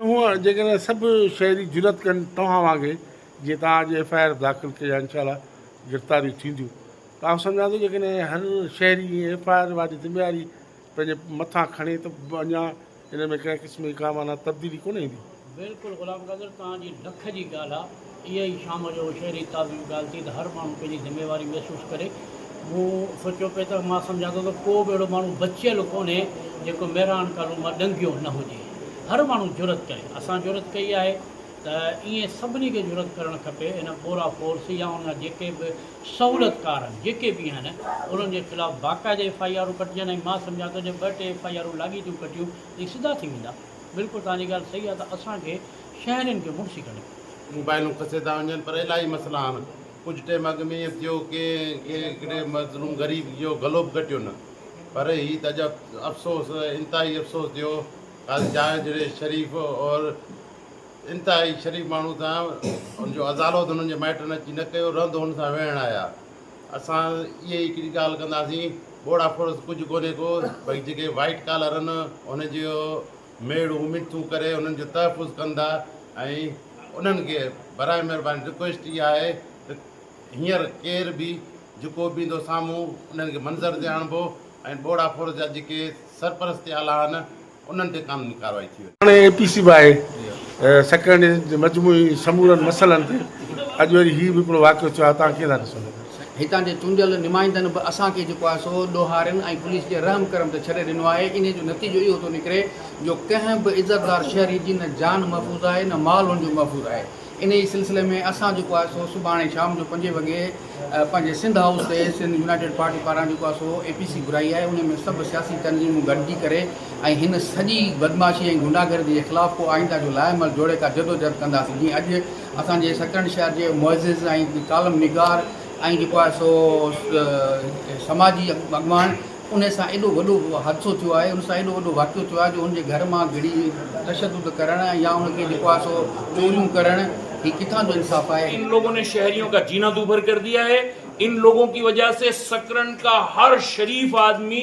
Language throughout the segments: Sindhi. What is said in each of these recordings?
هونئن جيڪڏهن سڀ شهري جرئت ڪن توهان وانگي جيئن توهان اڄ ايف آء آر داخل ڪئي آهي انشاء الله گرفتاريون ٿينديون ته آئون سمجهان ٿو جيڪڏهن هر شهري ائين ايف آء آر واري ذميواري پنهنجي مٿان کڻي ته اڃا ان ۾ ڪنهن قسم جي ڪا معنيٰ تبديلي ڪونه ايندي. بلڪل غلام قادر توهان جي ڏک جي ڳالهه آ. اها ئي شام جو شهري تازي ڳالهه ٿي ته هر ماڻهو پنهنجي ذميواري محسوس ڪري. مون سوچيو پئي ته مان سمجهان ٿو ته ڪو به اهڙو ماڻهو بچيل ڪونهي جيڪو مهراڻ ڪالون مان ڏنگيو نه هجي. هر ماڻهو جرئت ڪري. اسان جرئت ڪئي آهي ته ائين سڀني کي جرئت ڪرڻ کپي. ان پورا فورس يا ان جا جيڪي به سهولتڪار آهن جيڪي به آهن انهن جي خلاف باقاعده ايف آء آرون ڪٽجن ۽ مان سمجهان ٿو جي ٻه ٽي ايف آء آرون لاڳيتيون ڪٽيون ته اهي سڌا ٿي ويندا. بلڪل توهان جي ڳالهه صحيح آهي ته اسان کي شهرين کي مڙسي ڪڍي. موبائلون کسي ٿا وڃن پر الاهي مسئلا آهن ڪجهه ٽيم اڳ ۾ ائين ٿيو ڪهڙي مظلوم غريب جو گلو به ڪٽيو نه پر هي ته عجب افسوس انتهائي افسوس ٿيو قاضي جاويد جهڙي شريف اور انتهائي شريف ماڻهو سان ان جو ازالو ته انهن جي مائٽن اچي نه ڪيو رند هن سان ويهڻ آيا اسان اهي ئي هڪڙي ڳالهه ڪنداسين ٻوڙا ڦڙس ڪجهه ڪونهي ڪو ڀئي جيڪي وائيٽ ڪالر ان جي ميڙ اميد تون ڪري انهن جو تحفظ ڪندا ۽ انهن کي برائي مهرباني رڪويسٽ اها آهي ته هينئر ڪير به جيڪو به ايندو سامهون انهن کي منظر تي آڻبو ۽ ٻوڙا فورس جا جيڪي سرپرستي آلا آهن انهن تي قانوني ڪارروائي ٿي وڃي. هاڻي اي پي سي باهه سيڪريٽريٽ جي مجموعي سمورن مسئلن تي اڄ وري هي به هڪڙو واقعو ٿيو آهي توهان ڪيئن ٿا ڏسو؟ هتان جي چونڊيل نمائندن به اسان کي جيڪو آهي سو ڏوهارين ۽ پوليس جي رحم ڪرم تي ڇڏي ڏنو آهي، انهي جو نتيجو اهو ٿو نڪري جو ڪنهن به عزتدار شهري جي نه جان محفوظ آهي نه مال هن جو محفوظ آهي، انهي سلسلي ۾ اسان جيڪو آهي سو سڀاڻي شام جو پنجين وڳي پنهنجي سنڌ هائوس تي سنڌ يونائيٽيڊ پارٽي پاران جيڪو آهي سو اي پي سي گهرائي آهي، انهي ۾ سڀ سياسي تنظيمون گڏجي ڪري ۽ هن سڄي بدمعاشي ۽ غنڊاگردي جي خلاف ڪو آئنده جو لائحه عمل جوڙي ڪا جدوجهد ڪنداسين جيئن اڄ اسان جي سڪرنڊ شهر جي معزز ۽ ڪالم نگار ۽ جيڪو آهي سو سماجي اڳواڻ ان سان ايڏو وڏو حادثو ٿيو آهي ان سان ايڏو وڏو واقعو ٿيو آهي جو ان جي گهر مان گهڙي تشدد ڪرڻ يا ان کي جيڪو آهي سو چوريون ڪرڻ هي ڪٿان جو انصاف آهي ان لوگون ني شهريون ڪا جينا دوبر ڪر ديا هي ان لوگون ڪي وجه سي سڪرنڊ ڪا هر شريف آدمي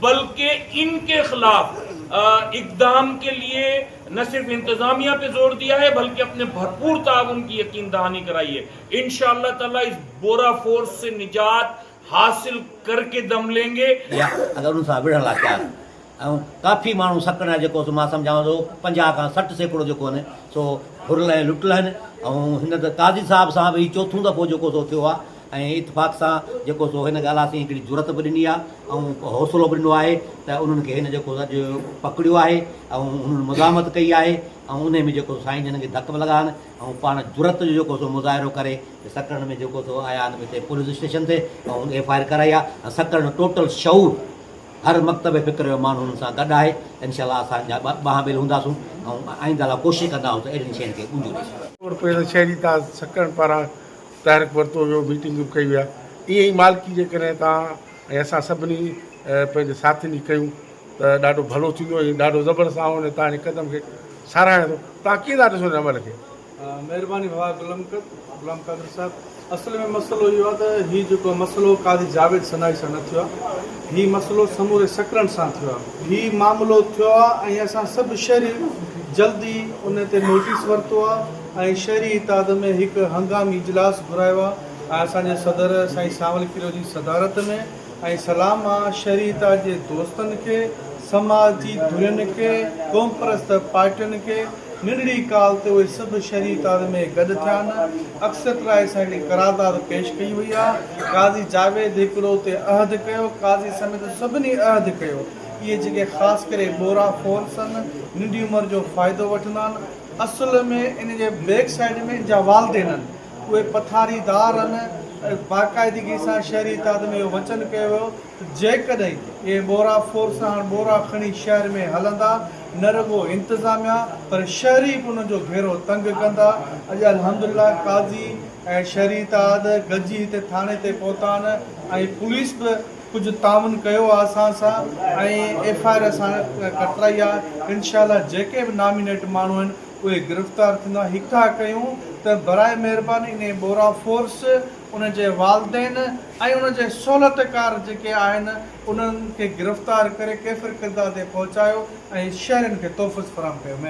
بلڪه ان ڪي خلاف اقدام ڪي ليي نه صرف انتظاميه پي زور ديا هي بلڪه اپني ڀرپور تعاون ڪي يقين دهاني ڪرائي هي انشاء الله تعالي اس بورا فورس سي نجات حاصل ڪر ڪي دم لين گي. يا اگر ان سان وڙهڻ لا تيار آهن ۽ ڪافي ماڻهو سڪڻ ۽ جيڪو سو مان سمجهان ٿو پنجاهه کان سٺ سيڪڙو جيڪو آهن سو ڦرل ۽ لٽل آهن ۽ هن ته قاضي صاحب سان به هي چوٿون دفعو جيڪو سو ٿيو آهي ۽ اتفاق سان جيڪو سو هن ڳالهه اسين هڪڙي جرئت به ڏني آهي ۽ حوصلو به ڏنو آهي ته انهن کي هن جيڪو اڄ پڪڙيو آهي ۽ انهن مزاحمت ڪئي آهي ۽ انهي ۾ جيڪو سو سائين جن کي ڌڪ به لڳا آهن ۽ پاڻ جرئت جو جيڪو سو مظاهرو ڪري سڪرنڊ ۾ جيڪو سو آيا آهن هتي پوليس اسٽيشن تي ۽ ايف آء آر ڪرائي آهي ۽ سڪرنڊ ٽوٽل شعور هر مڪتب فڪر جو ماڻهو انهن سان گڏ آهي انشاء الله اسان جا ٻانهن ٻيل هونداسون ۽ آئنده لاء ڪوشش ڪنداسون ته اهڙين شين کي ڳنجو ڏئي سگهون. ڪوڙ پير شهري تاج سڪرنڊ پاران تحرڪ ورتو ويو ميٽنگ به ڪئي ويا ايئن ئي مالڪي جيڪڏهن توهان ۽ اسان سڀني پنهنجي ساٿين جي ڪيون ته ڏاڍو ڀلو ٿيندو ۽ ڏاڍو زبردست آئون هن توهان جي قدم کي ساراهيان ٿو توهان ڪيئن ٿا ڏسو هن عمل کي. مهرباني ڀاء غلام قد غلام قادر صاحب اصل ۾ مسئلو اهو آهي ته هي جيڪو مسئلو قاضي جاويد سنائي سان نه ٿيو آهي هي مسئلو سموري سڪرنڊ سان ٿيو آهي هي معاملو ٿيو آهي ۽ اسان سڀ شهرين جلدي ان تي نوٽيس ورتو آهي ۽ شهري اتحاد ۾ هڪ هنگامي اجلاس گهرايو آ ۽ اسان جي صدر سائين سانول ڪريو جي صدارت ۾ ۽ سلام آ شهري اتحاد جي دوستن کي سماج جي ڌرين کي قومپرست پارٽين کي ننڍڙي ڪال تي اهي سڀ شهري اتحاد ۾ گڏ ٿيا آهن اڪثريت راء سان هڪڙي قرارداد پيش ڪئي وئي آ قاضي جاويد هڪڙو اتي عهد ڪيو قاضي سميت سڀني عهد ڪيو اهي جيڪي خاص ڪري ٻورا ڦورسن ننڍي عمر جو فائدو وٺندا آهن اصل ۾ ان جي بيڪ سائيڊ ۾ ان جا والدين هن. اهي پٿاري دار هن ۽ باقاعدگي سان شهري اتحاد ۾ اهو وچن ڪيو ويو ته جيڪڏهن اهي ٻورا فورس هاڻ ٻورا کڻي شهر ۾ هلندا نه رڳو انتظاميا پر شهري به انهن جو گهيرو تنگ ڪندا. اڄ الحمدلله قاضي ۽ شهري اتحاد گڏجي هتي ٿاڻي تي پهتا آهن ۽ پوليس به ڪجهه تعاون ڪيو آ اسان سان ۽ ايف آء آر سان ڪترائي آ انشاء الله جيڪي به نامينيٽ ماڻهو آهن اهي گرفتار ٿيندا هڪا ڪيون ته براء مهرباني انهي ٻورا فورس ان جي والدين ۽ ان جي سهولت ڪار جيڪي آهن انهن کي گرفتار ڪري ڪيفر ڪردار تي پهچايو ۽ شهرين کي تحفظ فراهم ڪيو.